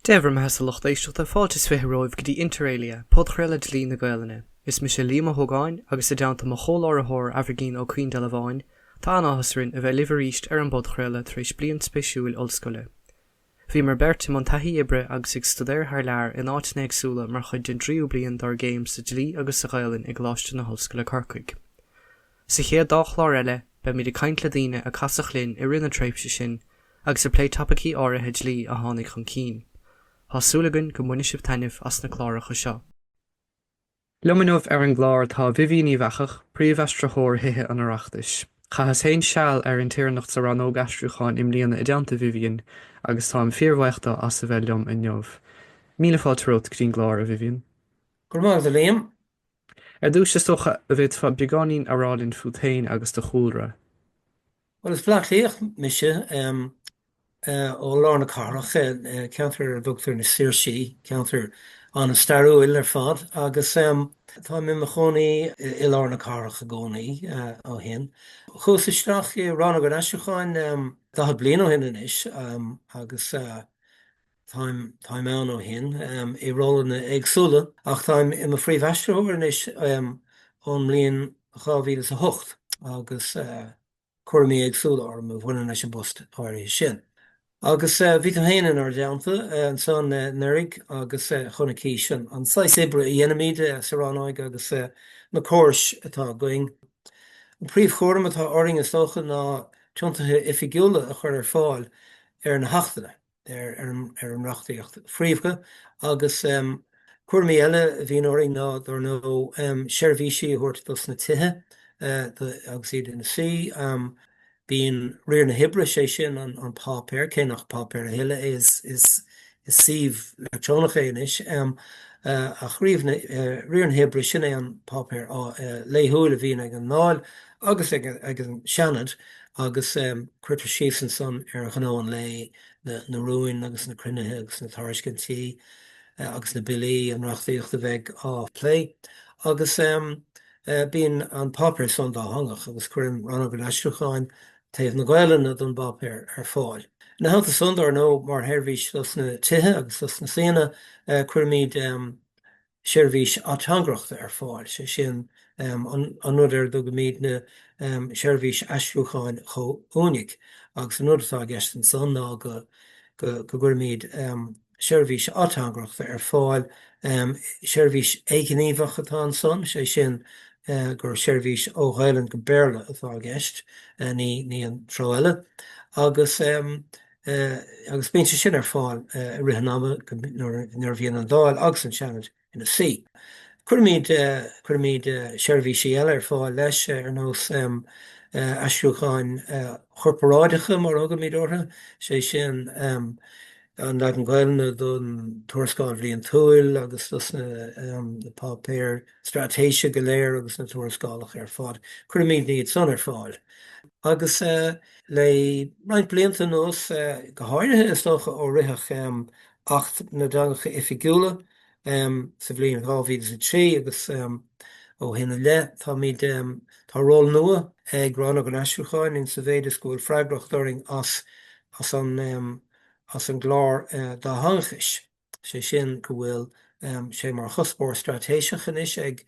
Dé bhur mbeathasa a lucht éisteachta, fáilte is fiche romhaibh go dtí Inter Alia, podchraoladh Dlí na Gaolainne. Is mise Liam Ó hÓgáin, agus i dteannta mo chomhláithritheoir Aimhirgín Ó Caoindealbháin, tá an-áthas orainn a bheith libh arís ar an bpodchraoladh tar éis bliain spéisiúil ollscoile. Bhíomar beirt i mbun taithí oibre agus ag stuidéar thar lear in áiteanna éagsúla mar chuid den dtríú bliain dár gcéim sa Dlí agus sa Ghaolainn i gColáiste na hOllscoile Corcaigh. Sa chéad dá chlár eile, beimid ag caint le daoine a casadh linn i rith na tréimhse sin agus ag plé topaicí áirithe dlí a tháinig chun cinn. Tá súil againn go mbainfidh sibh taitneamh as na cláracha seo. Liom inniu ar an gclár tá Vivian Uíbh Eachach, Príomhaistritheoir Thithe an Oireachtais. Chaitheas féin seal ar intéirneacht sa Rannóg Aistriúcháin i mbliana i dteannta Vivian agus táim fíorbhuíoch de as a bheith liom inniu. Míle fáilte romhat go dtí an gclár, a Vivian. Go raibh maith agat, a Liam. Ar dtúis, is dócha an bhféadfá beagáinín a rá linn fút féin agus do chúlra? Bhuel, is Baile Átha Cliathach mise, ó lár na cathrach, ceantar ar a dtugtar na Saoirsí, ceantar an-stairiúil ar fad, agus táim i mo chónaí i lár na cathrach i gcónaí ó shin. Chuas isteach i Rannóg an Aistriúcháin 40 bliain ó shin anois agus. Táim, táim ann ó shin, i rólanna éagsúla, ach táim i mo phríomhaistritheoir anois ón mbliain dhá mhíle is a hocht, agus cúraimí éagsúla orm a bhaineann leis an bpost áirithe sin. Agus bhí tú fhéin inár dteannta ansan anuraidh, agus chonaicís an saghas oibre a dheinimid sa rannóig agus na córais atá againn. An príomhchúram atá orainn, is dócha, ná tiontuithe oifigiúla a chur ar fáil ar na hachtanna. ar an reachtaíocht phríomha agus cúraimí eile a bhíonn orainn ná, dár ndóigh, seirbhísí a thabhairt dos na tithe agus iad ina suí. Bíonn Riar na hOibre, sé sin an páipéar, cé nach páipéar a thuilleadh é, is suíomh leictreonach é anois, ach Riar na hOibre, sin é an páipéar laethúil a bhíonn ag an nDáil agus ag an Seanad agus cuirtear síos ansan ar ghnó an lae, na rúin agus na cruinnithe agus na tairiscintí agus na billí, an reachtaíocht a bheidh á plé agus bíonn an páipéar san dátheangach agus cuireann Rannóg an Aistriúcháin taobh na Gaolainne den bpáipéar ar fáil. Ina theannta san, dár ndóigh, mar sheirbhís dos na tithe agus dos na suíonna, cuirimid seirbhís ateangaireachta ar fáil, sé sin an rud ar a dtugaimidne seirbhís aistriúcháin chomhuainigh agus an rud atá i gceist ansan ná go gcuirimid seirbhís ateangaireachta ar fáil, seirbhís éighníomhach atá ansan, sé sin gur seirbhís ó Ghaelainn go Béarla atá i gceist, ní an treo eile, agus. agus bíonn sé sin ar fáil i rith an ama nuair a bhíonn an Dáil agus an Seanad ina suí. Cuirimid seirbhísí eile ar fáil leis ar nós aistriúcháin chorparáideacha mar a thugaimid orthu, is é sin an leagan Gaelainne don Tuarascáil Bhliantúil agus dos na páipéir straitéise go léir agus na tuarascálacha ar fad. Cuirimidne iad san ar fáil agus. Le roinnt blianta anuas, go háirithe is dócha ó ritheadh Acht na dTeangacha Oifigiúla sa bhliain 2003 agus ó shin i leith, táimid, tá ról nua ag Rannóg an Aistriúcháin in sa mhéid is go bhfuil freagracht orainn as an gclár dátheangachais. sé sin go bhfuil sé mar chuspóir straitéiseach anois ag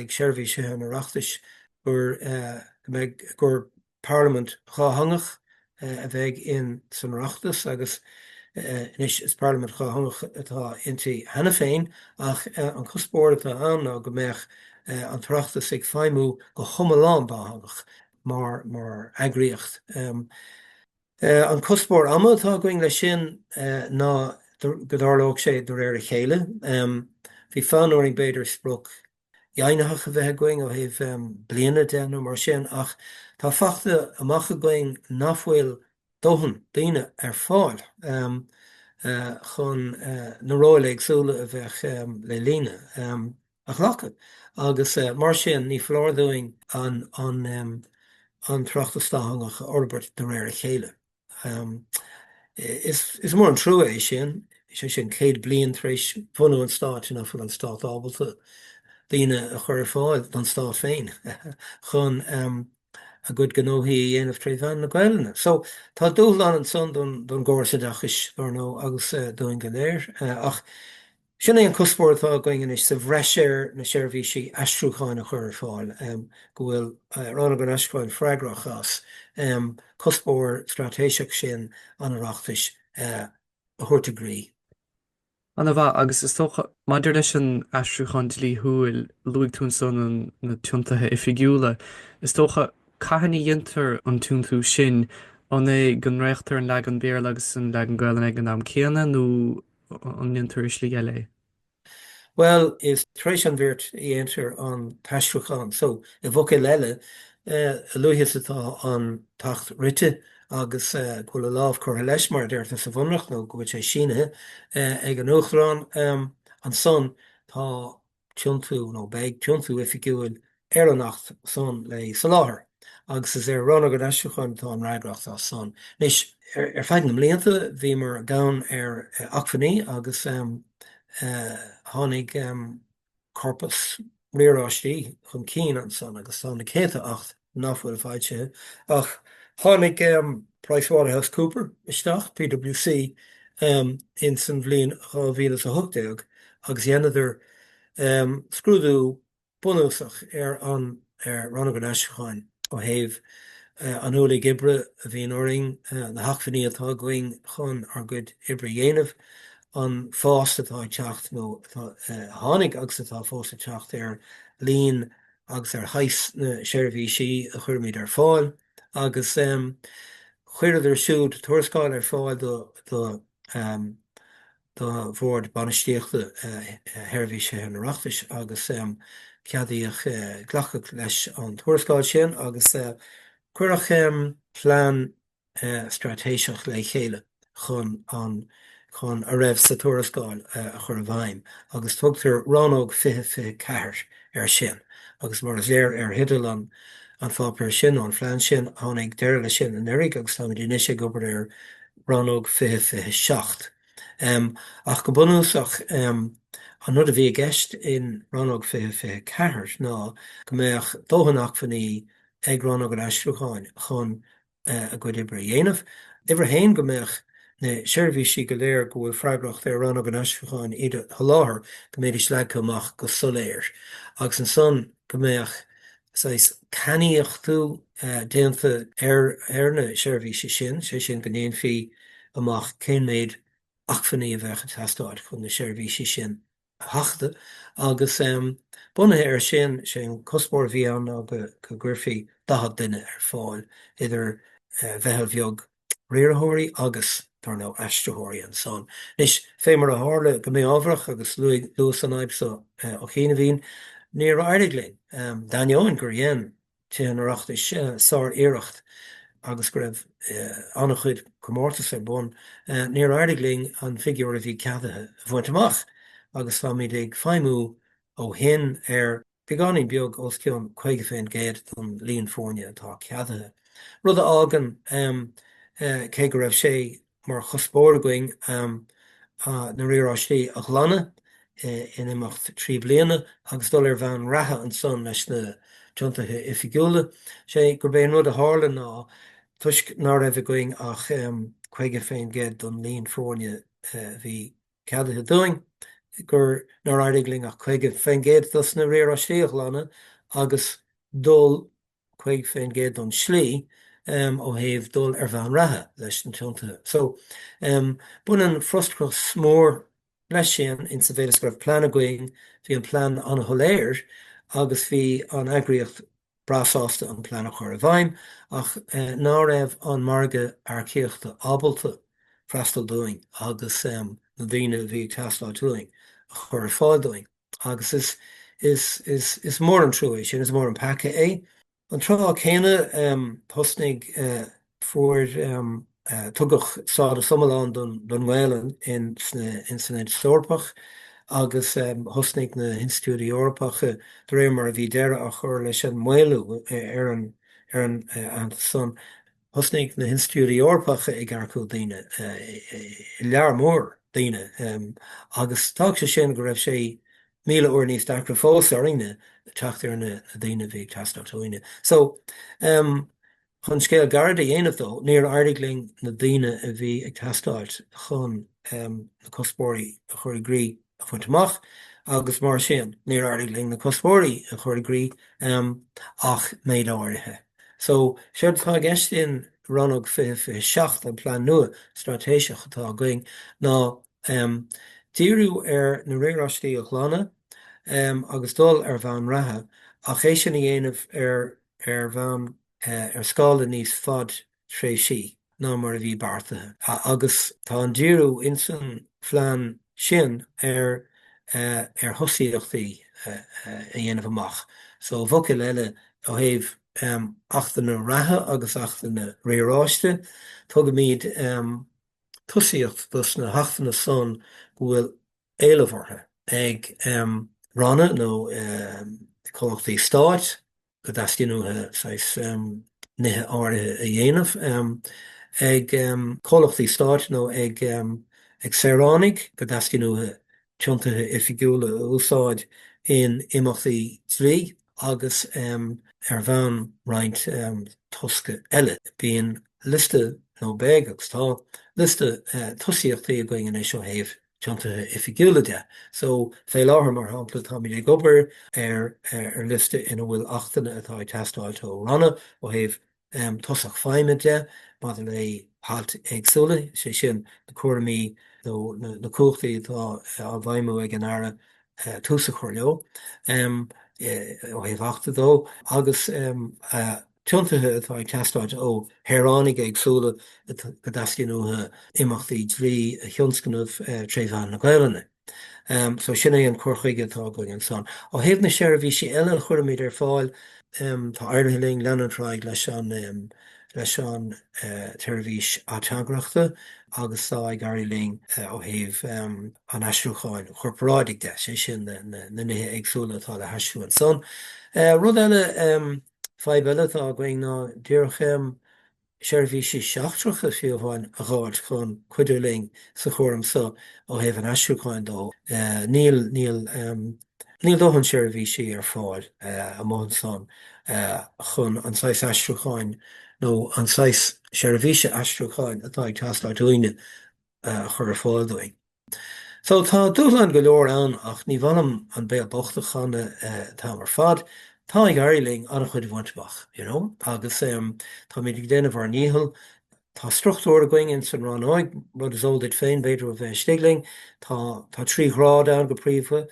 Seirbhís Thithe an Oireachtais gur parlaimint dhátheangach a bheidh in san Oireachtas agus anois is parlaimint dhátheangach atá inti cheana féin ach an cuspóir atá ann ná go mbeadh an tOireachtas ag feidhmiú go hiomlán dátheangach mar eagraíocht. An cuspóir ama atá againn leis sin ná go dtarlódh sé de réir a chéile. Bhí fonn orainn b'fhéidir sprioc dheimhnitheach a bheith againn ó thaobh bliana de nó mar sin ach tá fachta amach againn nach bhfuil dóthain daoine ar fáil chun na róil éagsúla a bheadh le líonadh. a ghlacadh agus mar sin ní foláir dúinn an tOireachtas dátheangach a fhorbairt de réir a chéile. Is mór an trua é sin, sé sin céad bliain tar éis bhunú an stáit nach bhfuil an stát ábalta daoine a chur ar fáil don stát féin chun a gcuid gnóthaí a dhéanamh tré mheán na Gaelainne. So tá dúshlán ansan don gcóras oideachais ar ndóigh agus dúinn go léir ach Sin é an cuspóir atá againn anois sa bhreis ar na seirbhísí aistriúcháin a chur ar fáil, go bhfuil Rannóg an Aistriúcháin freagrach as cuspóir straitéiseach sin an Oireachtais a thabhairt i gcrích. Ana mhaith. Agus is dócha, maidir leis an aistriúchán dlíthiúil, luaigh tú ansan na tiontuithe oifigiúla. Is dócha, cathain a dhéantar an tiontú sin? An é go ndréachtar an leagan Béarla agus an leagan Gaelainne ag an am céanna nó an ndéantar i slí eile é? Bhuel, is tar éis an bhirt a dhéantar an t-aistriúchán, so, i bhfocail eile, a luaithe is atá an t-acht rite agus go bhfuil a lámh curtha leis, mar a deirtear sa Bhunreacht, nó go bhfuil sé sínithe ag an Uachtarán, ansan tá tiontú, nó beidh tiontú oifigiúil ar an Acht san le soláthar, agus is ar Rannóg an Aistriúcháin atá an fhreagracht as san. Anois, ar feadh na mblianta, bhíomar gann ar acmhainní, agus tháinig corpas riaráistí chun cinn ansan, agus tá na céadta Acht, nach bhfuil foilsithe, ach tháinig PricewaterhouseCoopers isteach, PWC, ins an bhliain 2018 agus dheineadar scrúdú bunúsach ar Rannóg an Aistriúcháin ó thaobh an ualaigh oibre a bhíonn orainn, na hacmhainní atá againn chun ár gcuid oibre a dhéanamh, an fás atá ag teacht nó atá, a tháinig agus atá fós ag teacht ar líon agus ar shaghas na seirbhísí a chuirimid ar fáil agus chuireadar siúd tuarascáil ar fáil do Bhord Bainistíochta Sheirbhís Thithe an Oireachtais agus ceadaíodh glacadh leis an tuarascáil sin agus cuireadh plean straitéiseach le chéile chun a raibh sa tuarascáil a chur i bhfeidhm agus tugtar Rannóg 20 24 air sin agus mar is léir ó theideal an pháipéir sin nó an phleain sin, tháinig deireadh leis sin anuraidh agus táimid anois ag obair ar Rannóg 20 27. Ach go bunúsach, an rud a bhí i gceist in Rannóg 20 24 ná go mbeadh dóthain acmhainní ag Rannóg an Aistriúcháin chun a gcuid oibre a dhéanamh. Uimhir a haon, go mbeadh na seirbhísí go léir go bhfuil freagracht ar Rannóg an Aistriúcháin iad a sholáthar, go mbeidís leagtha amach go soiléir. Agus ansan go mbeadh saghas cainníochtú déanta ar na seirbhísí sin, sé sin go ndéanfaí amach cén méid acmhainní a bheadh ag teastáil chun na seirbhísí sin a sheachadadh agus, bunaithe air sin, is é an cuspóir a bhí ann ná go gcuirfí 40 duine ar fáil, idir mheitheal bheag riarthóirí agus, dar ndóigh, aistritheoirí ansan. Anois, fé mar a tharla go mí-ámharach, agus luas an fhadhb so ó chianaibhín, níor éirigh linn, d'ainneoin gur dhein. Tithe an Oireachtais sár-iarracht agus go raibh an-chuid comórtas ar bun, níor éirigh linn an figiúr a bhí ceadaithe a bhaint amach agus táimid ag feidhmiú ó shin ar bheagáinín beag os cionn 50% den líon foirne atá ceadaithe, rud a fhágann, cé go raibh sé mar chuspóir againn na riaráistí a ghlanadh in imeacht trí bliana agus dul ar bhonn reatha ansan leis na tiontuithe oifigiúla, sé gurb é an rud a tharla ná, toisc ná raibh againn ach 50% don líon foirne a bhí ceadaithe dúinn, nár éirigh linn ach 50% dos na riaráistí a ghlanadh agus dul. 50% don slí ó thaobh dul ar bhonn reatha leis na tiontuithe so. Baineann frustrachas mór leis sin in sa mhéid is go raibh plean againn, bhí an plean an-shoiléir agus bhí an eagraíocht breá sásta an plean a chur i bhfeidhm ach ná raibh an margadh earcaíochta ábalta freastal dúinn agus na daoine a bhí ag teastáilt uainn a chur ar fáil dúinn. Agus is, is, is, is mór an trua é sin, is mór an peaca é. An tráth céanna, thosnaigh, fuair, tugadh stádas iomlán don, don nGaelainn in sna, in san Aontas Eorpach agus thosnaigh na hinstitiúidí Eorpacha, de réir mar a bhí deireadh á chur leis an maolú ar an, ar an, Aontas san, Thosnaigh na hinstitiúidí Eorpacha ag earcú daoine, lear mór daoine, agus d'fhág sé sin go raibh sé míle uair níos deacra fós orainne teacht ar na daoine a bhí ag teastáil uainne. So, chun scéal gairid a dhéanamh dó, níor éirigh linn na daoine a bhí ag teastáil chun na cuspóirí a chur i gcrích, a bhaint amach agus mar sin níor éirigh linn na cuspóirí a chur i gcrích ach méid áirithe. So, séard atá i gceist in Rannóg 2027, an plean nua straitéiseach atá againn, ná díriú ar na riaráistí a ghlanadh agus dul ar bhonn reatha, ach é sin a dhéanamh ar bhonn, ar scála níos faide. tréimhse ná mar a bhí beartaithe agus tá an díriú ins an phlean sin ar ar thosaíochtaí a dhéanamh amach. So, i bhfocail eile, ó thaobh achtanna reatha agus achtanna riaráiste, tugaimid tosaíocht dos na hachtanna san go bhfuil éileamh orthu ag ranna nó comhlachtaí stáit, go dteastaíonn uathu saghas nithe áirithe a dhéanamh ag comhlachtaí stáit nó ag saoránaigh, go dteastaíonn uathu tiontuithe oifigiúla a úsáid in imeachtaí dlí agus ar bhonn roinnt tosca eile. Bíonn liosta, nó beidh agus tá liosta, tosaíochtaí againn anois ó thaobh tiontuithe oifigiúla de. So, fé láthair, mar shampla, táimid ag obair ar liosta ina bhfuil achtanna atá ag teastáilt ó Ranna ó thaobh tosach feidhme de maidir le hailt éagsúla, sé sin, na cúraimí nó na cumhachtaí atá á bhfeidhmiú ag an Aire tús a chur leo, ó thaobh Achta de, agus. tiontuithe atá ag teastáilt ó shaoránaigh éagsúla go dteastaíonn uathu imeachtaí dlí a thionscnamh tré mheán na Gaelainne. So sin é an cur chuige atá againn anso. Ó thaobh na seirbhísí eile a chuirimid ar fáil, tá éirithe linn leanúint ar aghaidh leis an tseirbhís ateangaireachta agus tá ag éirí linn ó thaobh an aistriúcháin chorparáidigh de, sé sin na nithe éagsúla atá le haistriú ansan. Rud eile. Fadhb eile atá againn ná géarchéim seirbhísí seachtracha fiú amháin a dh'fháilt chun cuidiú linn sa chúram seo ó thaobh an aistriúcháin de. Níl, níl, níl dóthain seirbhísí ar fáil amuigh ansan chun an saghas aistriúcháin nó an saghas seirbhíse aistriúcháin atá ag teastáilt uainne a chur ar fáil dúinn. So, tá dúshláin go leor ann ach ní maith liom an béal bocht a chanadh an t-am ar fad, tá ag éirí linn ana-chuid a bhaint amach, you know, agus táimid ag déanamh ár ndícheall. Tá struchtúr againn ins an rannóig, rud is eol duit féin b'fhéidir ó bheith istigh linn, tá trí ghrád ann go príomha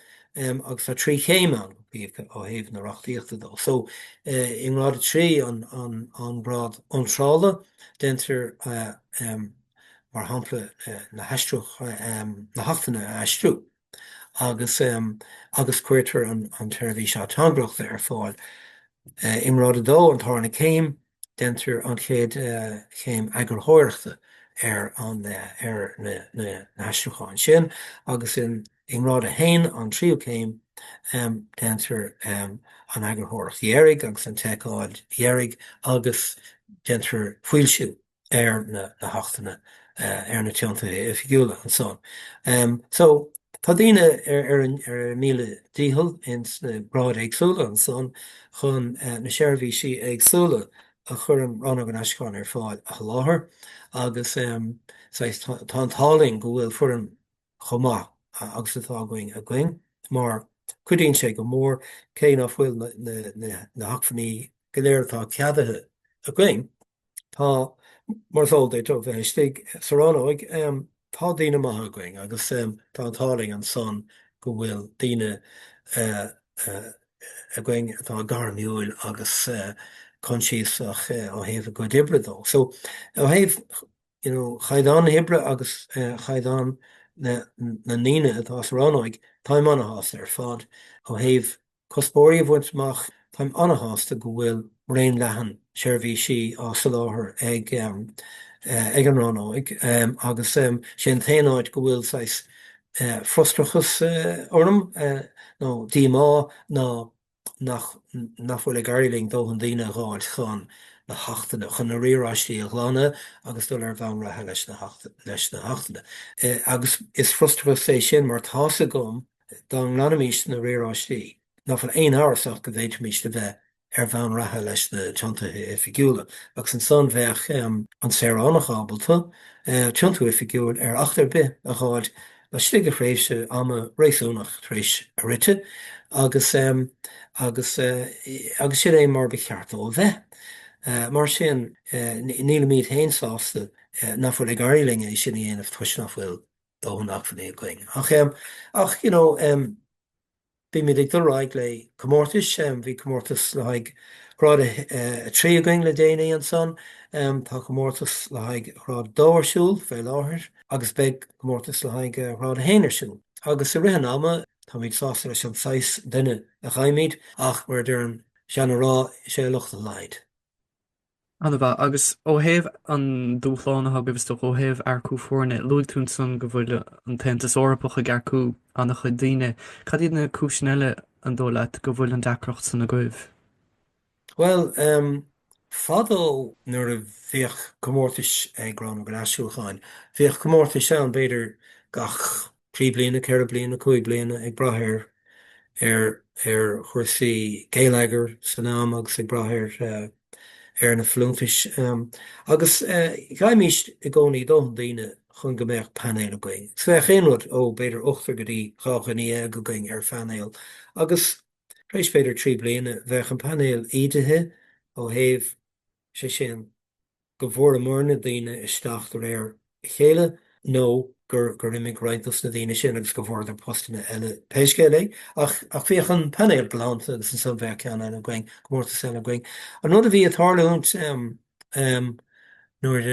agus tá trí chéim ann go príomha ó thaobh na reachtaíochta de. So, i ngrád a trí, an grád iontrála, déantar an. mar shampla, na hAchtanna a aistriú agus agus cuirtear an tseirbhís ateangaireachta ar fáil i ngrád a dó, an tarna céim, déantar an chéad chéim eagarthóireachta ar na haistriúcháin sin agus i ngrád a haon, an tríú céim, déantar an eagarthóireacht dheiridh agus an tseiceáil dheiridh agus déantar foilsiú ar na hachtanna, ar na tiontuithe oifigiúla ansan. So, tá daoine ar a míle dícheall ins na gráid éagsúla ansan chun na seirbhísí éagsúla a chuireann Rannóg an Aistriúcháin ar fáil a sholáthar agus, saghas, tá an t-ádh linn go bhfuil foireann chomh maith agus atá againn againn mar cuidíonn sé go mór cé nach bhfuil na hacmhainní go léir atá ceadaithe againn. Tá, mar is eol duit ó bheith istigh sa rannóig, tá daoine maithe againn agus tá an t-ádh linn ansan go bhfuil daoine againn atá gairmiúil agus consiasach ó thaobh a gcuid oibre de. So, ó thaobh, you know, chaighdeán na hoibre agus chaighdeán na ndaoine atá sa rannóig, táim ana-shásta ar fad ó thaobh Cuspóirí a bhaint amach Táim an-shásta go bhfuil raon leathan seirbhísí á soláthar ag ag an rannóig agus sé an t-aon áit go bhfuil saghas frustrachas orm nó díomá ná nach nach bhfuil ag éirí linn dóthain daoine a dh'fháilt chun na hachtanna, chun na riaráistí a ghlanadh agus dul ar bhonn reatha leis na leis na hachtanna. Agus is frustrachas é sin mar tá's agam go Dá nglanfaimís na riaráistí, ná fuil aon amhras ach go bhféadfaimís a bheith ar bhonn reatha leis na tiontuithe oifigiúla, agus ansan bheadh an saoránach ábalta tiontú oifigiúil ar Acht ar bith a dh'fháilt laistigh de thréimhse ama réasúnach tar éis a rite, agus agus agus sin é mar ba cheart dó a bheith. Mar sin, nílimíd féin sásta ná fuil ag éirí linn é sin a dhéanamh toisc ná fuil. Dóthain acmhainní againn. Ach, ach, you know, bímid ag dul ar aghaidh le comórtais, bhí comórtas le haghaidh ghrád a 3 againn le déanaí ansan, tá comórtas le haghaidh ghrád a 2 ar siúl fé láthair agus beidh comórtas le haghaidh ghrád a 1 ar siúl. Agus i rith an ama, táimid sásta leis an saghas duine a fhaighimid ach mar a deir an seana rá, is é a locht a laghad. An-mhaith. Agus ó thaobh an dúshláin atá agaibh istigh ó thaobh earcú foirne, luaigh tú ansan go bhfuil an tAontas Eorpach ag earcú an-chuid daoine. Cad iad na cúiseanna eile, an dóigh leat, go bhfuil an deacracht san agaibh? Bhuel, fadó nuair a bhíodh comórtais ag Rannóg an Aistriúcháin, bhíodh comórtais ann b'fhéidir gach trí bliana, ceithre bliana, cúig bliana, ag brath ar ar chúrsaí geilleagair san am agus ag brath ar ar na folúntais. Agus gheibhimís i gcónaí dóthain daoine chun go mbeadh painéal againn. Is bheadh aon rud ó, b'fhéidir, ochtar go dtí dhá dhuine dhéag againn ar phainéal agus tar éis, b'fhéidir, trí bliana bheadh an painéal ídithe ó thaobh sé sin, go bhfuaireamar na daoine isteach de réir a chéile nó gur imigh roinnt dos na daoine sin agus go bhfuaireadar postanna eile pé scéal é. Ach bhíodh an painéal glanta agus ansan bheadh ceann eile againn, comórtas eile againn. An rud a bhí ag tarlúint nuair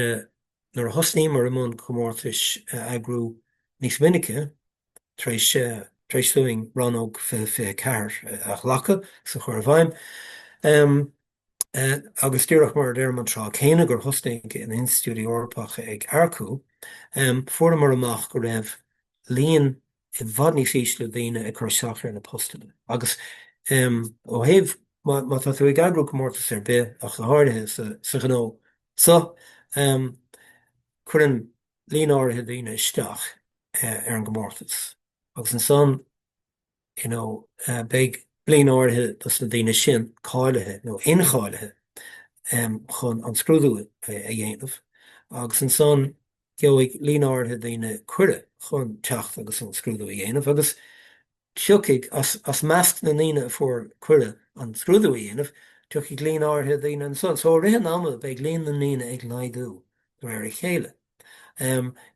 a thosnaíomar i mbun comórtais a eagrú níos minice, tar éis dúinn rannóg fiche fiche ceathair a ghlacadh is a chur i bhfeidhm, agus díreach mar a deirim an tráth céanna gur thosnaigh an Institiúid Eorpach ag earcú, fuaireamar amach go raibh líon i bhfad níos ísle daoine ag cur isteach ar na postanna. Agus ó thaobh, má tá tú ag eagrú comórtas ar bith, ach go háirithe sa ghnó seo, cuireann líon áirithe daoine isteach ar an gcomórtas agus ansan, you know Beidh líon áirithe dos na daoine sin cáilithe nó incháilithe chun an scrúdú a dhéanamh agus ansan gheobhaidh líon áirithe daoine cuireadh chun teacht agus an scrúdú a dhéanamh agus tiocfaidh, as measc na ndaoine a fuair cuireadh an scrúdú a dhéanamh, tiocfaidh líon áirithe daoine ansan. So i rith an ama beidh líon na ndaoine ag laghdú de réir a chéile.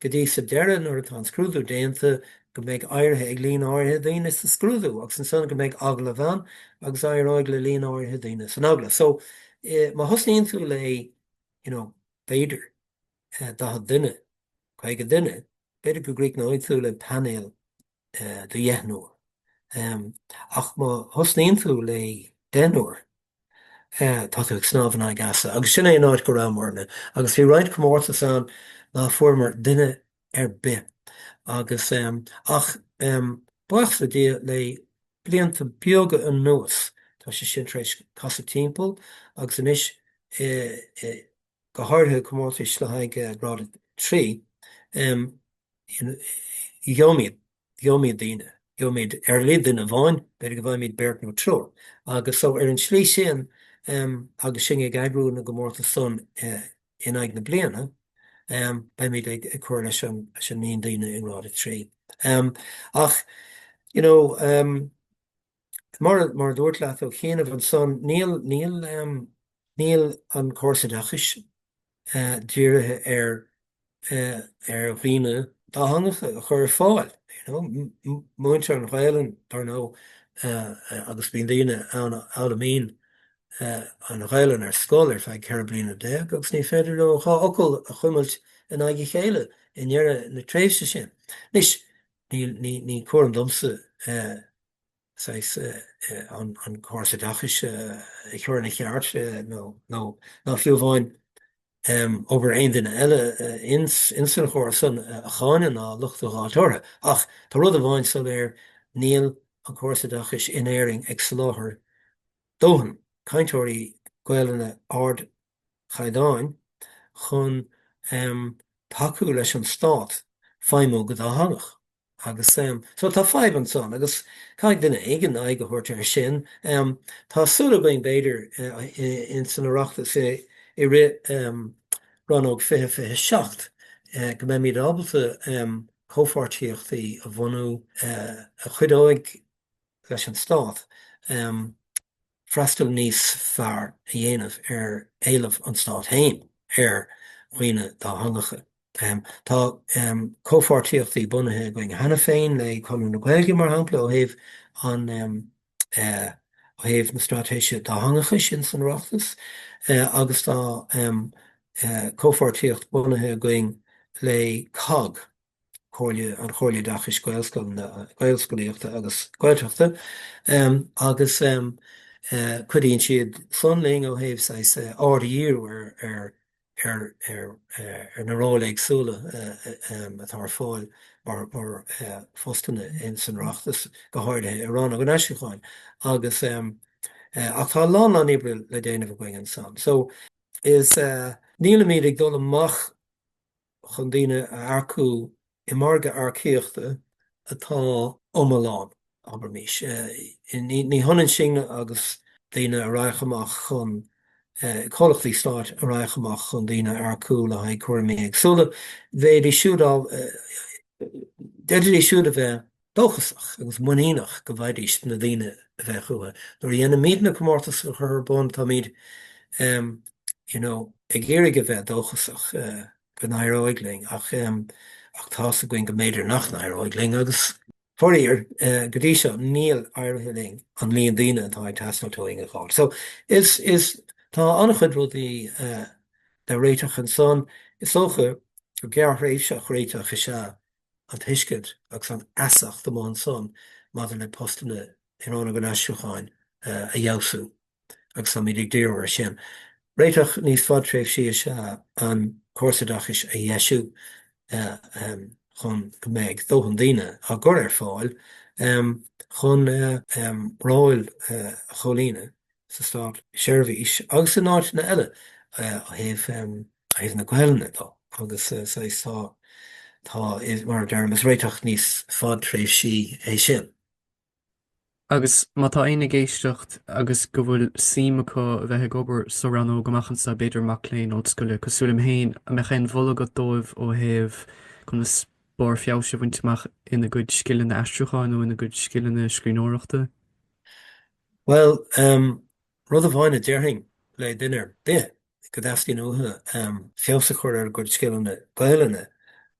go dtí sa deireadh nuair atá an scrúdú déanta go mbeidh éirithe ag líon áirithe daoine sa scrúdú agus ansan go mbeidh agallamh ann agus éireoidh le líon áirithe daoine san agallamh. So, má thosnaíonn tú le, you know, b'fhéidir, daichead duine, caoga duine, b'fhéidir go gcríochnóidh tú le painéal do dheichniúr, ach má thosnaíonn tú le deichniúr, tá tú ag snámh in aghaidh easa. Agus sin é an áit go rabhamarna. Agus bhí roinnt comórtas ann ná fuaireamar duine ar bith, agus, ach, buíochas le Dia, le blianta beaga anuas, tá sé sin tar éis casadh timpeall, agus anois, go háirithe comórtais le haghaidh Grád 3, gheobhaimid, gheobhaimid daoine, gheobhaimid ar a laghad duine amháin, b'fhéidir go bhfaighimid beirt nó triúr. Agus so ar an tslí sin, agus sinn ag eagrú na gcomórtas san in aghaidh na bliana, beimid ag cur leis an, leis an líon daoine i nGrád 3. Ach, you know, Mar a dúirt leat ó chianaibh ansan, níl an Córas Oideachais dírithe ar dhaoine dátheangacha a chur ar fáil, you know. Múintear an Ghaelainn, dar ndóigh, agus bíonn daoine ann a fhoghlaimíonn an Ghaelainn ar scoil ar feadh ceithre bliana déag agus ní féidir leo dhá fhocal a chuimilt in aghaidh a chéile i ndeireadh na tréimhse sin. Anois, ní cúram domsa saghas, an córas oideachais a chur ina cheart nó fiú amháin obair aon duine eile ins an chóras san a cháineadh ná locht a dh'fháilt orthu. Ach tá rud amháin soiléir, níl an córas oideachais in Éirinn ag soláthar dóthain cainteoirí Gaelainne ard chaighdeáin chun tacú leis an stát feidhmiú go dátheangach. Agus so tá fadhb ansan agus caithfidh duine éigin aghaidh a thabhairt air sin. Tá súil againn b'fhéidir in san Oireachtas i rith 2027 go mbeimid ábalta comhpháirtíochtaí a bhunú a chuideoidh leis an stát, freastal níos fearr a dhéanamh ar éileamh an Stáit féin ar dhaoine dátheangacha. Tá comhpháirtíochtaí bunaithe againn cheana féin le Conradh na Gaeilge, mar shampla, ó thaobh an, ó thaobh na straitéise dátheangachais ins an Oireachtas agus tá comhpháirtíocht bunaithe againn le cogg, an Chomhairle Oideachais, Gaelscolaíochta agus Gaeltachta agus cuidíonn siad san linn ó thaobh saghas aird a dhíriú ar na róil éagsúla atá ar fáil mar phostanna insan Oireachtas, go háirithe i Rannóg an Aistriúcháin agus. ach tá a lán lán oibre le déanamh againn ansan so is. nílimid ag dul amach chun daoine a earcú i margadh earcaíochta atá lomlán, abraimis. Ní hionann sin agus daoine a raghadh amach chun, comhlachtaí stáit a raghadh amach chun daoine a earcú le haghaidh cúraimí éagsúla, bheidís siúd á, d'fhéadfaidís siúd a bheith dóchasach agus muiníneach go bhfaighidís na daoine a bheadh uathu. Nuair a dhéanaimid na comórtais a chur ar bun, táimid you know ag iarraidh a bheith dóchasach go n-éireoidh linn ach ach tá's againn go mb'fhéidir nach n-éireoidh linn agus faraor go dtí seo níl éirithe linn an líon daoine atá ag teastáilt uainn a dh'fháil. So is is tá an-chuid rudaí le réiteach ansan. Is dócha go gearrthréimhseach réiteach is ea an tuiscint agus an fheasacht amuigh ansan maidir le postanna i Rannóg an Aistriúcháin a fheabhsú agus táimid ag díriú air sin. Réiteach níos fadtréimhsí is ea an córas oideachais a dheisiú chun go mbeidh dóthain daoine á gcur ar fáil chun na róil a chomhlíonadh sa státseirbhís agus in áiteanna eile ó thaobh na Gaelainne de agus saghas tá, tá, mar a deirim, is réiteach níos fadtréimhsí é sin. Agus má tá éinne ag éisteacht agus go bhfuil suim acu a bheith ag obair sa rannóg amach anseo, b'fhéidir mac léinn ollscoile cosúil liom féin, an mbeadh aon mholadh agat dóibh ó thaobh conas barr feabhais a bhaint amach ina gcuid scileanna aistriúcháin nó ina gcuid scileanna scríbhneoireachta? Bhuel, rud amháin a déarfainn le duine ar bith go dteastaíonn uathu feabhas a chur ar a gcuid scileanna Gaelainne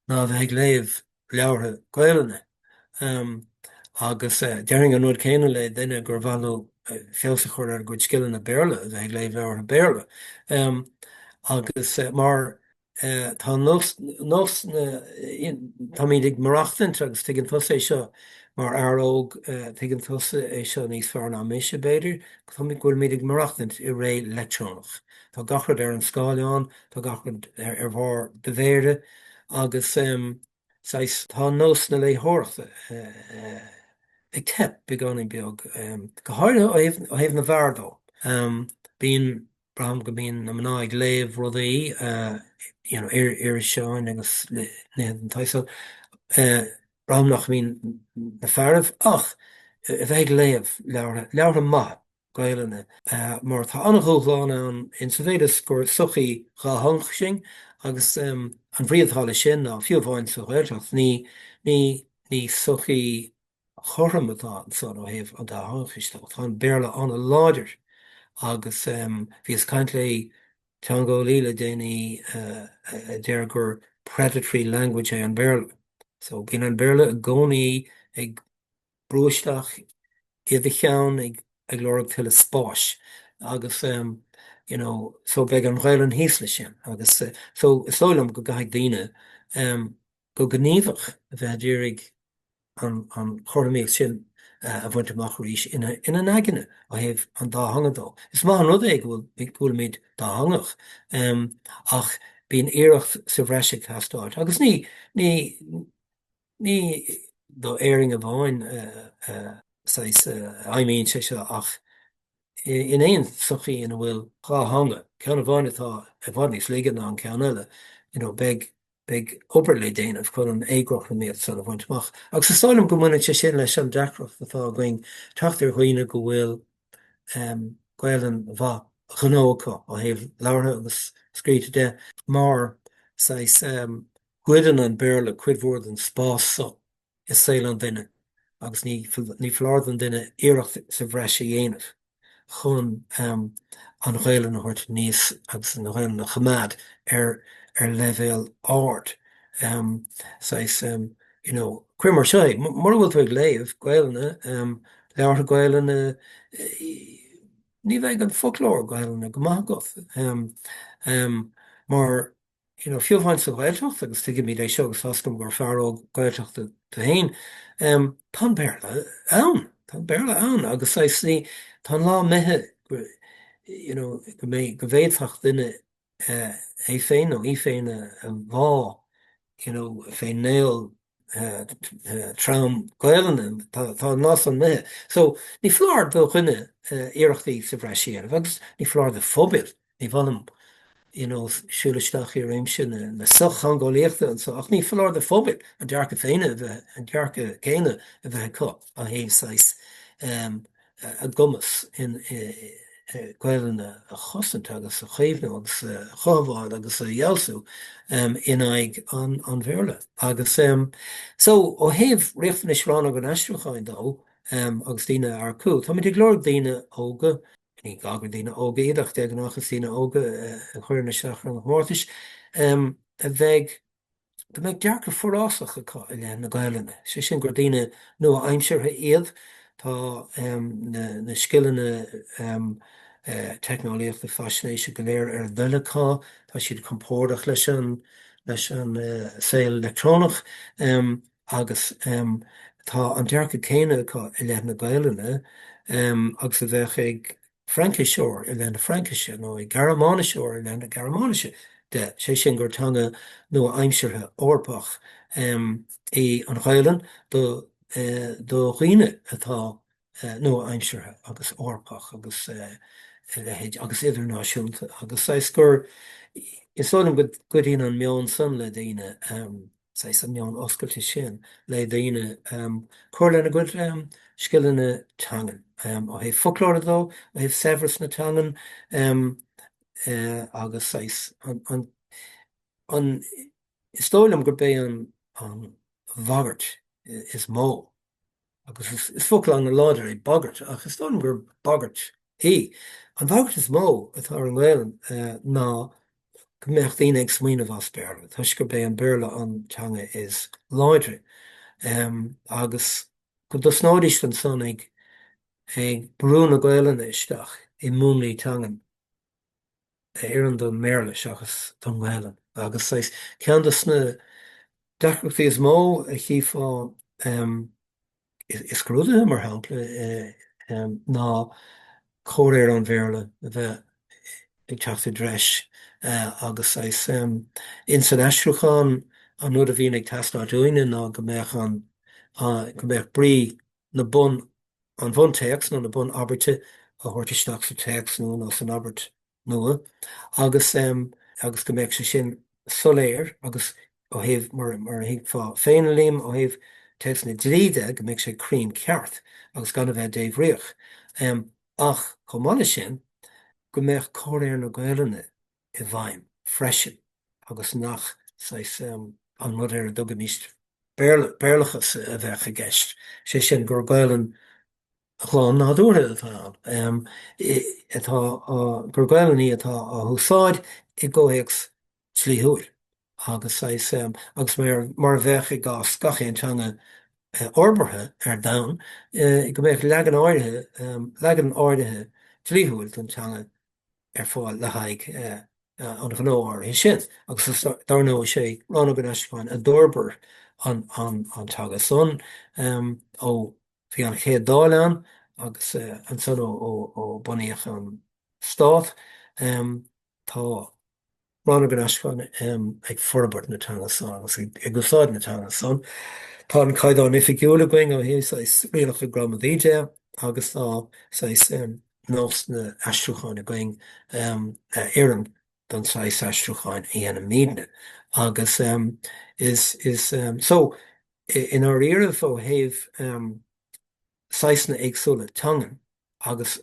ná a bheith ag léamh leabhartha Gaelainne. Agus déarfainn an rud céanna le duine gur mhaith leo feabhas a chur ar a gcuid scileanna Béarla a bheith ag léamh leabhartha Béarla. Agus mar. Tá nós, nós na, táimid ag maireachtaint agus tuigeann tusa é seo mar fhear óg, tuigeann tusa é seo níos fearr ná mise, b'fhéidir, go bhfuilimid ag maireachtaint i ré leictreonach. Tá gach rud ar an scáileán, tá gach rud ar bharr do mhéire agus, saghas, tá nós na léitheoireachta ag teip beagáinín beag, go háirithe ó thaobh na bhfear dó. Bíonn. Braithim go mbíonn na mná ag léamh rudaí, you know, iriseáin agus nithe den tsaghas san. Braithim nach mbíonn na fearaibh ach a bheith ag léamh leabhartha, leabhartha maithe Gaelainne, mar tá an-dhúshlán ann in sa mhéid is gur sochaí dhátheangach sinn agus an bhrí atá leis sin ná, fiú amháin sa Ghaeltacht, ní, ní, ní sochaí chothrom atá ansan ó thaobh an dátheangachais de. Tá an Béarla an-láidir agus bhíos ag caint le teangeolaí le déanaí a deir gur predatory language é an Béarla. So, bíonn an Béarla i gcónaí ag brú isteach i do cheann ag lorg tuilleadh spáis agus you know so beidh an Ghaelainn thíos leis sin agus so is dóigh liom go gcaithfidh daoine go gníomhach, a bheith a d'iarraidh an chothromaíocht sin a bhaint amach arís ina n-aigne ó thaobh an dá theanga dó. Is maith an rud é go bhfuilimid dátheangach ach bíonn iarracht sa bhreis ag teastáilt agus ní, ní do Éirinn amháin a fheidhmíonn sé seo ach in aon sochaí ina bhfuil dhá theanga, ceann amháin atá i bhfad níos laige ná an ceann eile, beidh beidh obair le déanamh chun an éagothromaíocht san a bhaint amach. Agus is dóigh liom go mbaineann sé sin leis an deacracht atá againn teacht ar dhaoine go bhfuil Gaelainn mhaith ghnó acu, ó thaobh labhartha agus scríte de, mar, saghas, goideann an Béarla cuid mhór den spás so. i saol an duine agus ní ní foláir don duine iarracht sa bhreis a dhéanamh chun an Ghaelainn a thabhairt aníos agus an Ghaelainn a choimeád ar ar leibhéal ard. Saghas, you know, cuir mar seo é, mura bhfuil tú ag léamh Gaelainne, leabhartha Gaelainne, ní bheidh an foclóir Gaelainne go maith agat mar, you know fiú amháin sa Ghaeltacht agus tuigimid é seo agus tá 's agam gur fear óg Gaeltachta tú féin em tá an Béarla ann, tá an Béarla ann agus saghas ní, tá an lá imithe go you know go mbeidh, go bhféadfadh duine eh é féin nó í féin a bhá you know féna trom Gaelainne, tá an lá san imithe. So, ní foláir do dhuine iarrachtaí sa bhreis a dhéanamh agus ní foláir do phobail, ní mholaim, you know, siúl isteach i réimse na sochtheangeolaíochta anseo, ach ní foláir do phobail a ndearcadh féin a bheith, an dearcadh céanna a bheith acu ó thaobh saghas, a gcumas i nGaelainn a chosaint agus a chaomhnú agus a chothabháil agus a dhealú in aghaidh an Bhéarla. Agus so, ó thaobh riachtanais Rannóg an Aistriúcháin dó agus daoine a earcú, táimid ag lorg daoine óga, ní gá gur daoine óga iad ach de ghnáth is daoine óga a chuireann isteach ar na comórtais, a bheidh go mbeidh dearcadh forásach acu i leith na Gaelainne, sé sin gur daoine nua-aimseartha iad, tá na scileanna teicneolaíochta faisnéise go léir ar a dtoil acu, tá siad compordach leis an saol leictreonach agus tá an dearcadh céanna acu i leith na Gaelainne agus a bheadh ag Frainciseoir i leith na Fraincise nó ag Gearmáiniseoir i leith na Gearmáinise de, sé sin gur teanga nua-aimseartha Eorpach í an Ghaelainn do do dhaoine atá nua-aimseartha agus Eorpach agus a leithéid agus idirnáisiúnta agus saghas gur, is dóigh liom go gcuidíonn an meon san le daoine. saghas an meon oscailte sin le daoine, cur lena gcuid scileanna teangan, ó thaobh foclóra dó, ó thaobh saibhreas na teangan agus saghas an, an, is dóigh liom gurb é an bhagairt is mó, Agus is focal an-láidir é bagairt, ach is dóigh liom gur bagairt í. An bhagairt is mó atá ar an nGaelainn ná go mbeadh daoine ag smaoineamh as Béarla, toisc gurb é an Béarla an teanga is láidre, agus go dtosnóidíst ansan ag ag brú na Gaelainne isteach i múnlaí teangan. a oireann don mBéarla seachas don nGaelainn. Agus is é ceann de na deacrachtaí is mó a chífeá i scrúduithe, mar shampla, ná comhréir an Bhéarla a bheith ag teacht i dtreis. Agus ins an aistriúchán, an rud a bhíonn ag teastáil uainne ná go mbeadh an go mbeadh brí, na bun, an bhuntéacs nó na bunabairte a thabhairt isteach sa téacs nua nó san abairt nua agus, agus go mbeadh sé sin soiléir agus ó thaobh, mar, mar a thuigfeá féin, Liam, ó thaobh téacs na dlí de, go mbeadh sé cruinn ceart agus gan a bheith débhríoch. Ach chomh maith leis sin, go mbeadh comhréir na Gaelainne. i bhfeidhm freisin agus nach saghas, an rud ar a dtugaimís Béarla, Béarlachas a bheadh i gceist, sé sin, gur Gaelainn ghlan nádúrtha atá ann, atá á, gur Gaelainn í atá á húsáid i gcomhthéacs dlíthiúil agus saghas, agus mar a bheadh i gcás gach aon teanga fhorbartha ar domhan, go mbeadh leagan áirithe, leagan áirithe dlíthiúil don teanga ar fáil le haghaidh an ghnó áirithe sin agus dar ndóigh sé Rannóg an Aistriúcháin a d'fhorbair an teanga san ó bhí an Chéad Dáil ann agus ansan ó bunaíodh an Stát. Tá. Rannóg an Aistriúcháin ag forbairt na teanga san agus ag úsáid na teanga san. Tá an Caighdeán Oifigiúil againn ó thaobh saghas rialacha gramadaí de agus tá saghas nósanna aistriúcháin againn a oireann don saghas aistriúcháin a dhéanaimidne agus is, is, so, i ndáiríribh, ó thaobh. saghsanna éagsúla teangan agus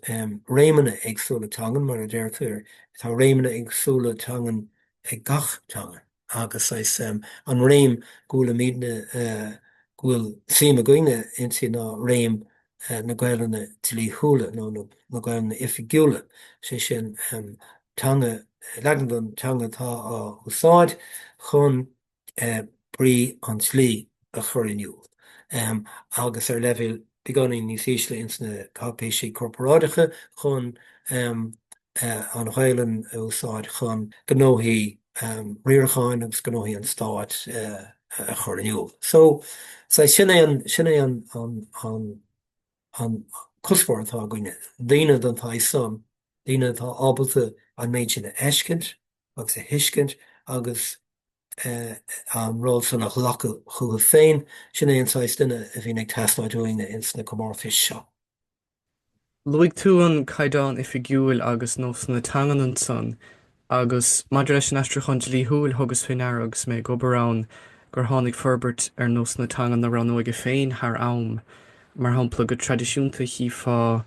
réimeanna éagsúla teangan, mar a deirtear, tá réimeanna éagsúla teangan ag gach teanga agus is é an réim go bhfuilimidne, go bhfuil suim againne inti ná réim na Gaelainne dlíthiúla nó na Gaelainne oifigiúla, sé sin, teanga, leagan den teanga atá á úsáid chun brí an dlí a chur in iúl, agus ar leibhéal beagáinín níos ísle ins na cáipéisí corporáideacha, chun an Ghaelainn a úsáid chun gnóthaí riaracháin agus gnóthaí an Stáit a chur in iúl. So, saghas, sin é an, sin é an, an, an, an cuspóir atá againne, daoine den tsaghas san, daoine atá ábalta an méid sin a fheiscint, agus a thuiscint agus an ról san a ghlacadh chucu féin, sin é an saghas duine a bhíonn ag teastáil uainne ins na comórtais seo. Luaigh tú an Caighdeán Oifigiúil agus nósanna teangan ansan, agus maidir leis an aistriúchán dlíthiúil, thugas fé ndeara agus mé ag obair ann gur tháinig forbairt ar nósanna teangan na rannóige féin thar am. Mar shampla, go traidisiúnta chífeá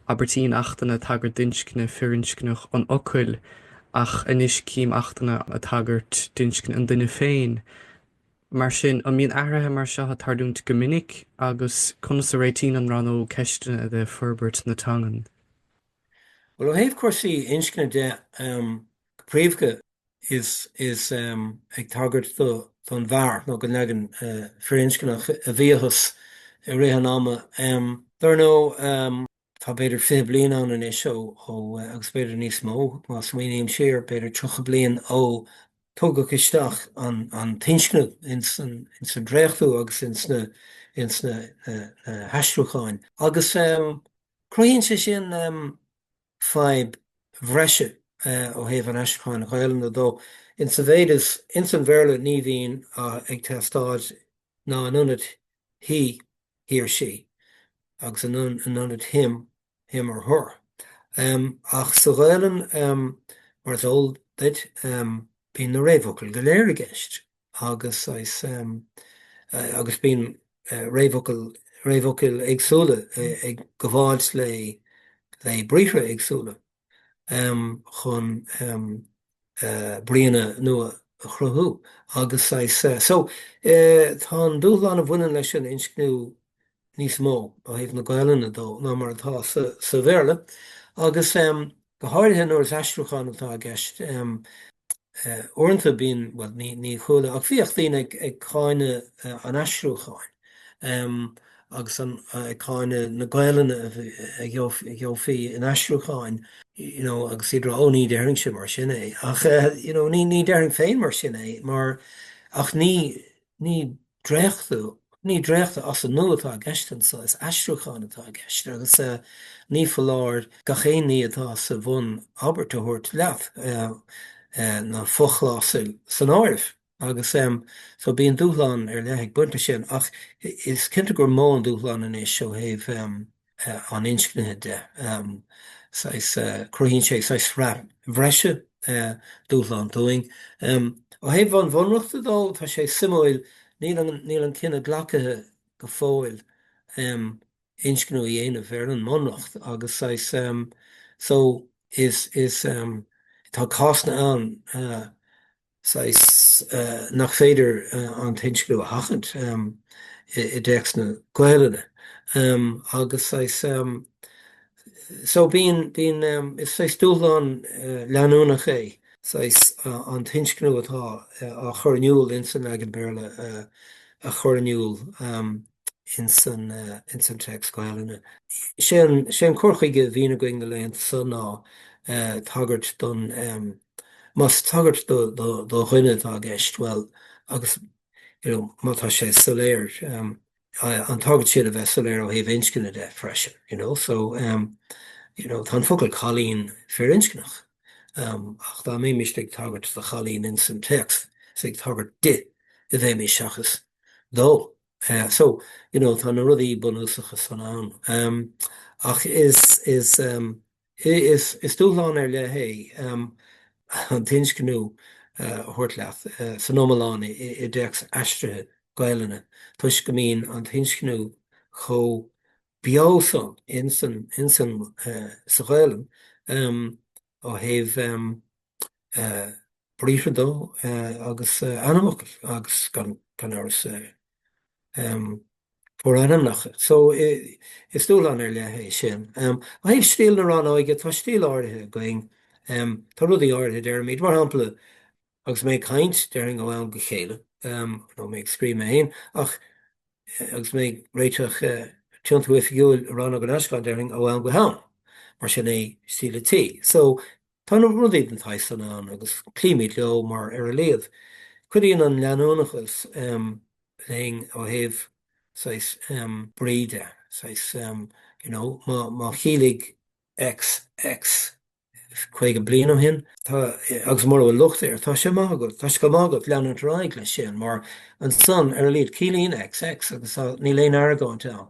abairtí in Achtanna ag tagairt d'inscne firinscneach an fhocail, ach anois cím Achtanna ag tagairt d'inscne an duine féin. Mar sin, an mbíonn athruithe mar seo ag tarlúint go minic agus conas a réitíonn an rannóg ceisteanna de forbairt na teangan? Bhuel, ó thaobh cúrsaí inscne dó, go príomhdha, is is ag tagairt don bhfear nó don leagan firinscneach a bhíothas i rith an ama dar ndóigh tá b'fhéidir fiche bliain ann anois ó agus b'fhéidir níos mó má smaoiním siar b'fhéidir tríocha bliain ó tugadh isteach an an t-inscniú ins an ins an dréachtú agus ins na ins na na haistriúcháin agus cruthaíonn sé sin fadhb bhreise ó thaobh an aistriúcháin Ghaelainne dó, in sa mhéid is, ins an Bhéarla ní bhíonn ag teastáil ná in ionad he, he or she, agus in ionad him, him or her. Ach sa Ghaelainn, mar is eol duit, bíonn na réamhfhocail go léir i gceist. agus is agus bíonn réamhfhocail réamhfhocail éagsúla ag gabháilt le le briathra éagsúla chun bríonna nua a chruthú agus is so tá an dúshlán a bhaineann leis an inscniú níos mó ó thaobh na Gaelainne dó ná mar atá sa Bhéarla, agus go háirithe nuair is aistriúchán atá i gceist. Uaireanta bíonn, bhuel, ní chuala, ach bhíodh daoine ag cáineadh an aistriúcháin agus ag cáineadh na Gaelainne a gheofaí in aistriúcháin, you know, agus iad á rá, 'Ó, ní déarfainnse mar sin é, ach, you know, ní déarfainn féin mar sin é, mar, ach ní, ní. dréachtú, ní dréachtú as an nua atá i gceist anseo, is aistriúchán atá i gceist agus ní foláir gach aon ní atá sa bhun-abairt a thabhairt leat, na fochlásail san áireamh, agus so bíonn dúshlán ar leith ag baint leis sin ach is cinnte gur mó an dúshlán ansan ó thaobh an inscnithe de. Saghas, cruthaíonn sé saghas sraith bhreise dúshlán dúinn. Ó thaobh an bhunreachta dó, tá sé suimiúil, níl an cinneadh glactha go fóill inscniú a dhéanamh ar an mbunreacht agus saghas, so, is, tá cásanna ann, saghas nach féidir an t-inscniú a sheachaint i dtéacsanna Gaelainne, agus saghas so bíonn, bíonn, is saghas dúshlán leanúnach é saghas an t-inscniú atá á chur in iúl ins an leagan Béarla a chur in iúl. ins an téacs Gaelainne. Sé an cur chuige a bhíonn againn na laethanta so ná tagairt don, más tagairt do dhuine atá i gceist, bhuel, agus you know má tá sé soiléir, an tagairt siad a bheith soiléir ó thaobh inscne de freisin, you know. So you know tá an focal cailín firinscneach ach dá mbeimis ag tagairt do chailín ins an téacs is ag tagairt di a bheimís seachas dó. So, you know, tá na rudaí bunúsacha san ann. Ach is dúshlán ar leith é an t-inscniú a thabhairt leat san iomlán i dtéacs aistrithe Gaelainne toisc go mbíonn an t-inscniú chomh beo san sa Ghaelainn ó thaobh briathra dó agus ainmfhocail agus gan amhras forainmneacha so is dúshlán ar leith é sin. Ó thaobh stíl na rannóige, tá stíl áirithe againn, tá rudaí áirithe a deirimid, mar shampla agus mé ag caint déarfainn ó am go chéile nó mé ag scríobh mé féin ach agus mé ag réiteach tiontú oifigiúil i Rannóg an Aistriúcháin déarfainn ó am go ham, mar sin é stíl an tí. So Tá na rudaí den tsaghas san ann agus cloímid leo mar ar a laghad. Cuidíonn an leanúnachas linn ó thaobh saghas brí de, saghas you know má chiallaigh X X caoga bliain ó shin, tá, agus mura bhfuil locht air, tá sé maith agat, tá sé chomh maith agat leanúint ar aghaidh leis sin mar ansan, ar a laghad, ciallaíonn X X agus tá, níl aon argóint ann.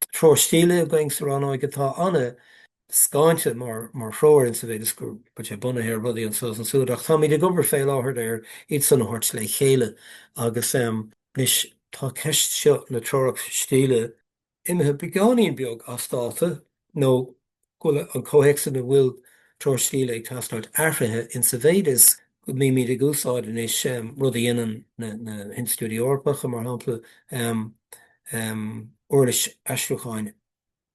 Tá treoir stíle againn sa rannóig atá an-scáinte mar threoir insa mhéid is go bhfuil sé bunaithe ar rudaí anseo is ansúd ach táimid ag obair fé láthair ar iad san a thabhairt le chéile agus, em, anois tá ceist seo na treorach stíle imithe beagáinín beag as dáta nó go bhfuil an comhthéacs ina bhfuil Treoir Stíle ag teastáilt athraithe in sa mhéid is go mbímid ag úsáid anois rud a dhéanann na hinstitiúidí Eorpacha, mar shampla, uirlis aistriúcháin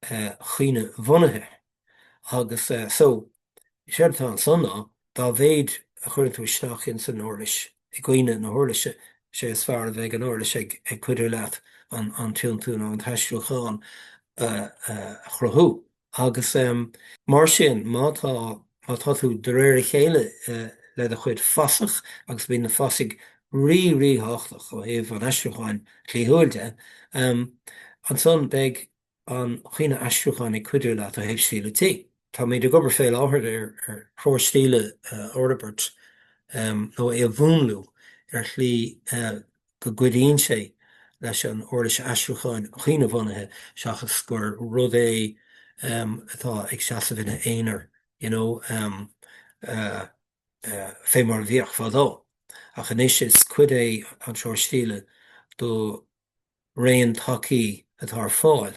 chuimhne-bhunaithe, agus so, is éard atá ansan ná Dá mhéid a chuireann tú isteach ins an uirlis, i gcuimhne na huirlise, sé is fearr a bheidh an uirlis ag cuidiú leat an tiontú nó an t-aistriúchán a chruthú. Agus mar sin, má tá, má tá tú de réir a chéile le do chuid fasach, agus bíonn na fasaigh rí, ríthábhachtach ó thaobh an aistriúcháin dhlíthiúil de, ansan beidh, an chuimhne aistriúcháin ag cuidiú leat ó thaobh stíle tí. Táimid ag obair fé láthair ar threoir stíle a fhorbairt nó é a mhúnlú ar shlí go gcuidíonn sé leis an uirlis aistriúcháin chuimhnebhunaithe seachas gur rud é atá ag seasamh ina aonar you know fé mar a bhíodh fadó ach anois is cuid é an treoir stíle do raon tacaí atá ar fáil,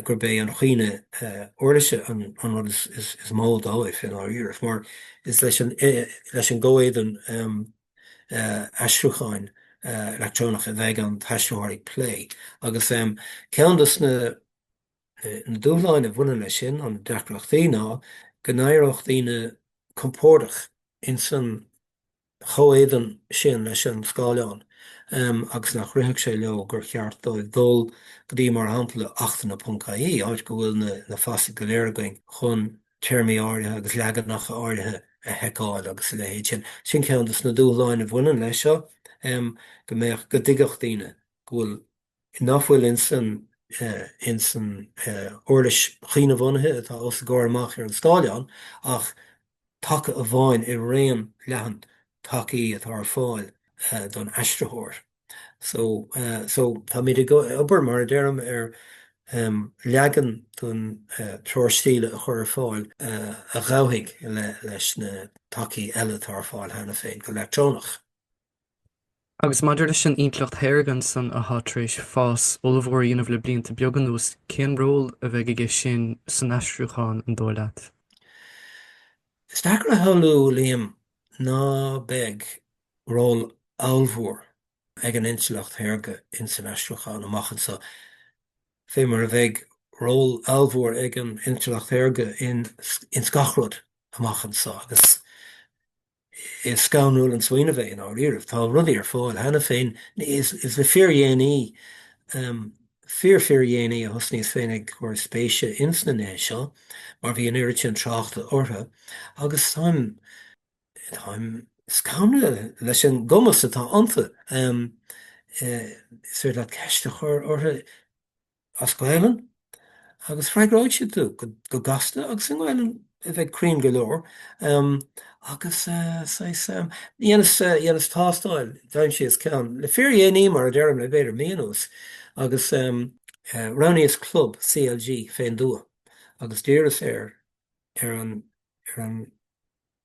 gurb é an chuimhne uirlise an rud is mó dóibh i ndáiríre, mar is leis an gcomhéadan aistriúcháin leictreonach a bheidh an t-aistritheoir ag plé. Agus ceann de na dúshláin a bhaineann leis sin, nó na deacrachtaí, ná go n-éireodh daoine compordach ins an. chomhéadan sin leis an scáileán agus nach rithfeadh sé leo gur cheart dóibh dul go dtí, mar shampla, achtanna.ie, áit go bhfuil na fasaigh go léir againn chun téarmaí áirithe agus leaganacha áirithe a sheiceáil agus a leithéid sin. Sin ceann de na dúshláin a bhaineann leis seo, go mbeadh, go dtuigfeadh daoine go bhfuil, nach bhfuil ins an ins an uirlis chuimhnebhunaithe atá os a gcomhair amach ar an scáileán ach taca amháin i raon leathan tacaí atá ar fáil don aistritheoir. So so táimid ag obair, mar a deirim, ar leagan den treoir stíle a chur ar fáil a ghabhfaidh leis na tacaí eile atá ar fáil cheana féin go leictreonach. Agus maidir leis an intleacht shaorga ansan atá tar éis fás ollmhór a dhéanamh le blianta beaga anuas, cén ról a bheidh aige sin san aistriúchán, an dóigh leat? Is deacair a shamhlú, Liam, ná beidh ról ollmhór ag an intleacht shaorga ins an aistriúchán amach anso, fé mar a bheidh ról ollmhór ag an intleacht shaorga ins gach rud amach anso, agus Is scanrúil an smaoineamh é, i ndáiríribh. Tá rudaí ar fáil cheana féin. Is le fíordhéanaí, fíor-fhíordhéanaí, a thosnaíos féin ag cur spéise ins na nithe seo, mar bhí an oiread sin tráchta orthu, agus táim, táim scanraithe leis an gcumas atá iontu. Is féidir leat ceist a chur orthu. as Gaelainn agus freagróidh siad tú go gasta agus i nGaelainn a bheidh cruinn go leor agus saghas, dhéanas tástáil, d'aimsíos ceann le fíordhéanaí mar a deirim, le b'fhéidir mí anuas agus roghnaíos club CLG fén dtuath agus d'iarras ar an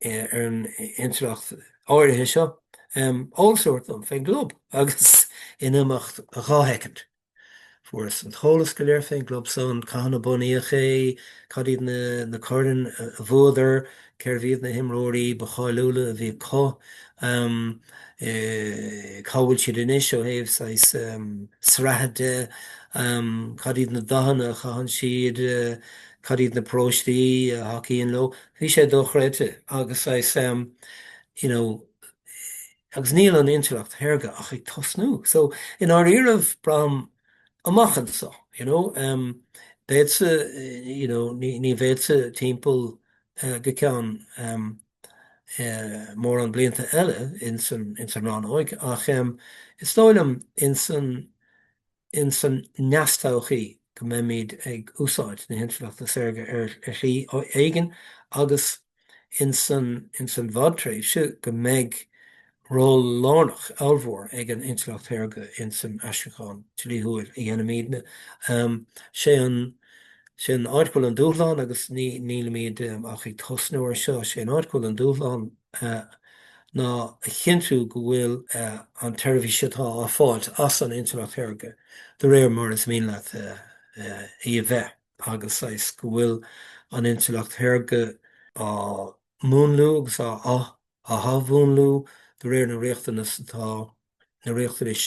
ar an intleacht áirithe seo, all sort of fén gclub agus in imeacht dhá shoicind fuaireas-sa an t-eolas go léir fén gclub san, cathain a bunaíodh é, cad iad na coirn a bhuadar, cérbh iad na himreoirí ba cháiliúla a bhí acu, cá bhfuil siad anois ó thaobh saghas sraithe de, cad iad na dathanna a chaitheann siad, cad iad na paróistí a thacaíonn leo. Bhí sé dochreidte agus saghas em you know agus níl an intleacht shaorga ach ag tosnú so i ndáiríribh braithim amach anseo you know em beadsa you know ní ní bheadsa timpeall eh go ceann em eh mórán blianta eile ins an ins an rannóig ach em is dóigh liom ins an ins an neastodhchaí go mbeimid ag úsáid na hintleachta saorga ar shlí éigin agus ins an bhfadtréimhse go mbeidh ról lárnach ollmhór ag an intleacht shaorga ins an aistriúchán dlíthiúil a dhéanaimidne. Sé an sé an áit go bhfuil an dúshlán agus nílimid ach ag tosnú ar seo, sé an áit go bhfuil an dúshlán. ná a chinntiú go bhfuil an tseirbhís atá á fáilt as an intleacht shaorga de réir mar is mian leat í a bheith agus saghas go bhfuil an intleacht shaorga á múnlú agus á athmhúnlú de réir na riachtanas atá, na riachtanais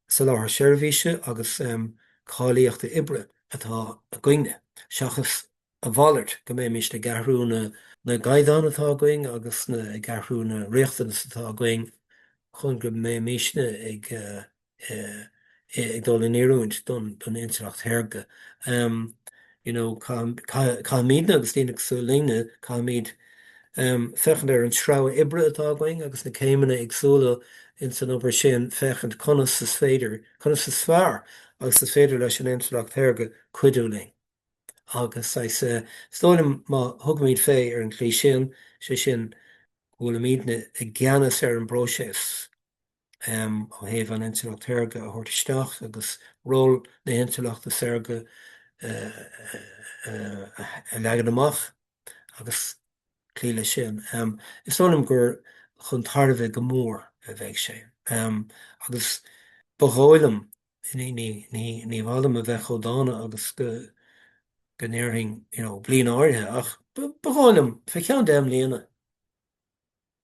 soláthar seirbhíse agus cáilíochta oibre atá againn-ne, seachas A mhalairt, go mbeimisne ag athrú na na gcaighdeán atá againn agus na ag athrú na riachtanas atá againn chun go mbeimisne ag ag dul in oiriúint don don intleacht shaorga. You know, caith caithfimidne agus daoine cosúil linne, caithfimid féachaint ar an sreabhadh oibre atá againn agus na céimeanna éagsúla in san obair sin féachaint conas is féidir, conas is fearr agus is féidir leis an intleacht shaorga cuidiú linn. agus is dóigh liom má thugaimid fé ar an tslí sin, sé sin go bhfuilimidne i gceannas ar an bpróiseas ó thaobh an intleacht shaorga a thabhairt isteach agus ról na hintleachta saorga a leagan amach agus cloí leis sin, is dóigh liom gur chun tairbhe go mór a bheidh sé. Agus ba dhóigh liom ní, ní, ní, ní mhaith liom a bheith chomh dána agus go, go ndéarfainn you know bliain áirithe ach ba mhaith liom fé cheann deich mbliana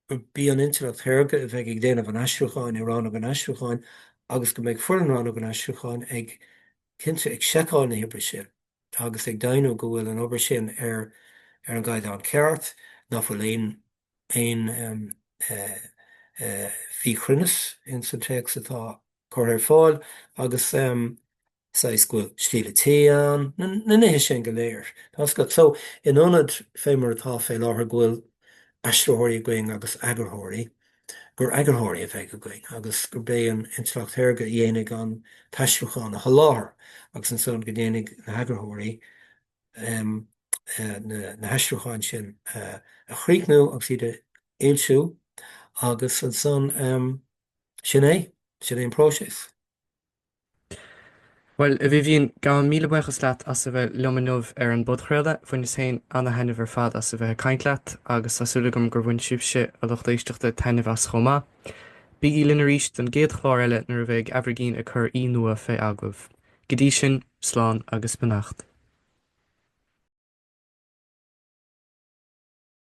gurb í an intleacht shaorga a bheidh ag déanamh an aistriúcháin i Rannóg an Aistriúcháin agus go mbeidh foireann Rannóg an Aistriúcháin ag cinnte ag seiceáil na hoibre sin agus ag deimhniú go bhfuil an obair sin ar, ar an gcaighdeán ceart, nach bhfuil aon aon mhíchruinneas in san téacs atá curtha ar fáil agus saghas go bhfuil stíl an tí ann, na nithe sin go léir. So in ionad fé mar atá fé láthair go bhfuil aistritheoirí againn agus eagarthóirí, gur eagarthóirí a bheidh againn agus gurb é an intleacht shaorga a dhéanfaidh an t-aistriúchán a sholáthar agus ansan go ndéanfaidh na heagarthóirí na haistriúcháin sin a chríochnú agus iad a fhoilsiú agus ansan sin é, sin é an próiseas. Bhuel, a Vivian, gabhaim míle buíochas leat as a bheith liom inniu ar an bpodchraoladh. Bhaineas féin ana-thaitneamh ar fad as a bheith ag caint leat agus tá súil agam gur bhain sibhse, a lucht éisteachta, taitneamh as chomh maith. Bígí linn arís don gcéad chlár eile nuair a bheidh Aimhirgín ag cur aoi nua fé agallamh. Go dtí sin, slán agus beannacht.